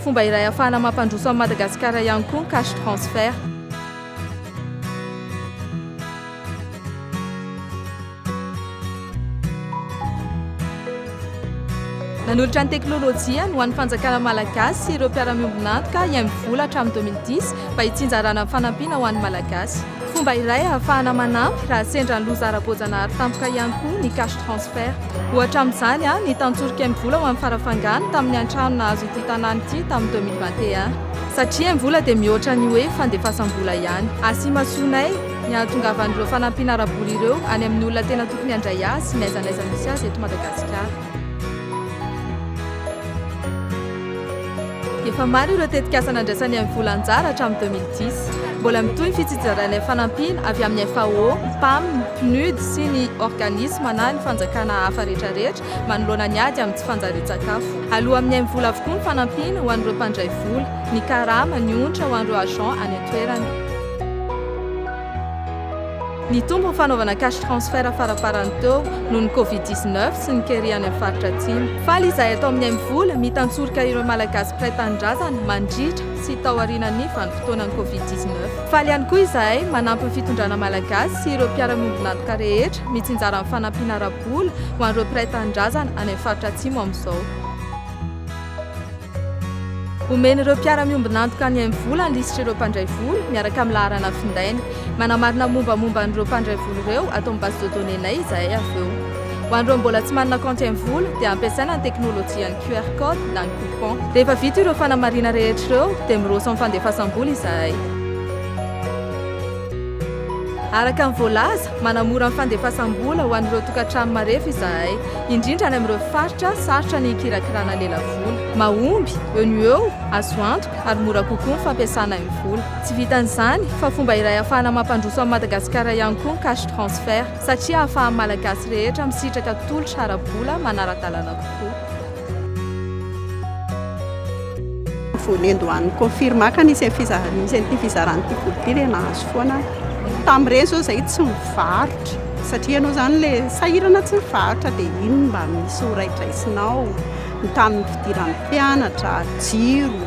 Fomba iray ahafahana mampandroso an'i Madagasikara ihany koa ny cash transfert. Nanolotra ny teknolojiany ho an'ny fanjakana malagasy sy ireo mpiara-miombon'antoka IMVola hatramin'ny 2010 mba hitsinjarana ny fanampiana ho an'ny Malagasy. Fomba iray ahafahana manampy raha sendra ny loza ara-boajanahary tampoka ihany koa ny cash transfert. Ohatra amin'izany ny tantsoroky Mvola ho an'i Farafangana tamin'ny an-trano nahazo ity tanàna ity tamin'ny deux mille vingt et un. Satria Mvola dia mihoatra ny hoe fandefasam-bola ihany. Asimasonay ny hahatongavan'ireo fanampiana ara-bola ireo any amin'ny olona tena tokony handray azy sy ny aizan'aiza misy azy eto Madagasikara. Efa maro ireo tetikasa nandraisan'ny MVola anjara hatramin'ny 2010. Mbola mitohy ny fitsitsarainay fanampiana avy amin'ny FAO, Pam, Pnud sy ny organisma na ny fanjakana hafa rehetrarehetra manoloana ny ady amin'ny tsy fanjarian-tsakafo. Aloa amin'ny MVola avokoa ny fanampiana ho an'ireo mpandray vola, ny karama, ny onitra ho an'ireo agents any an-toerana. Nitombo ny fanaovana cash transfert faraparany teo noho ny Covid dix neuf sy ny kere any amin'ny faritra Atsimo. Faly izahay ato amin'ny Aimivola mitantsoroka ireo Malagasy mpiray tanindrazana mandritra sy taorianan'ny vanim-potoanan'ny Covid dix neuf. Faly ihany koa izahay manampy ny fitondrana Malagasy sy ireo mpiara-miombon'antoka rehetra mitsinjara amin'ny fanampiana ara-bola ho an'ireo mpiray tanindrazana any amin'ny faritra Atsimo amin'izao. Omen'ireo mpiara-miombon'antoka ny MVola ny lisitr'ireo mpandray vola, miaraka amin'ny laharana findainy. Manamarina ny mombamomba an'ireo mpandray vola ireo ato amin'ny base de données-nay izahay avy eo. Ho an'ireo mbola tsy manana kaonty MVola, dia ampiasaina ny teknolojian'ny QR Code na ny coupon. Rehefa vita ireo fanamarihana rehetra ireo, dia miroso amin'ny fandefasam-bola izahay. Araka ny voalaza, manamora ny fandefasam-bola ho an'ireo tokantrano marefo izahay, indrindra any amin'ireo faritra sarotra ny hikirakirana lelavola. vola. Mahomby, eo no eo, azo antoka, ary mora kokoa ny fampiasana ny vola. Tsy vitan'izany, fa fomba iray ahafahana mampandroso an'i Madagasikara ihany koa ny cash transfert, satria ahafahan'ny Malagasy rehetra misitraka tolotra ara-bola manara-dalàna kokoa. Vonendo any confirme ka nisy an'ity fizarana ity vola ity dia nahazo foana aho. Tamin'ireny izao izahay tsy mivarotra, satria ianao izany ilay sahirana tsy mivarotra dia iny no mba misy ho raidraisinao. ny tamin'ny fidiran'ny mpianatra, jiro.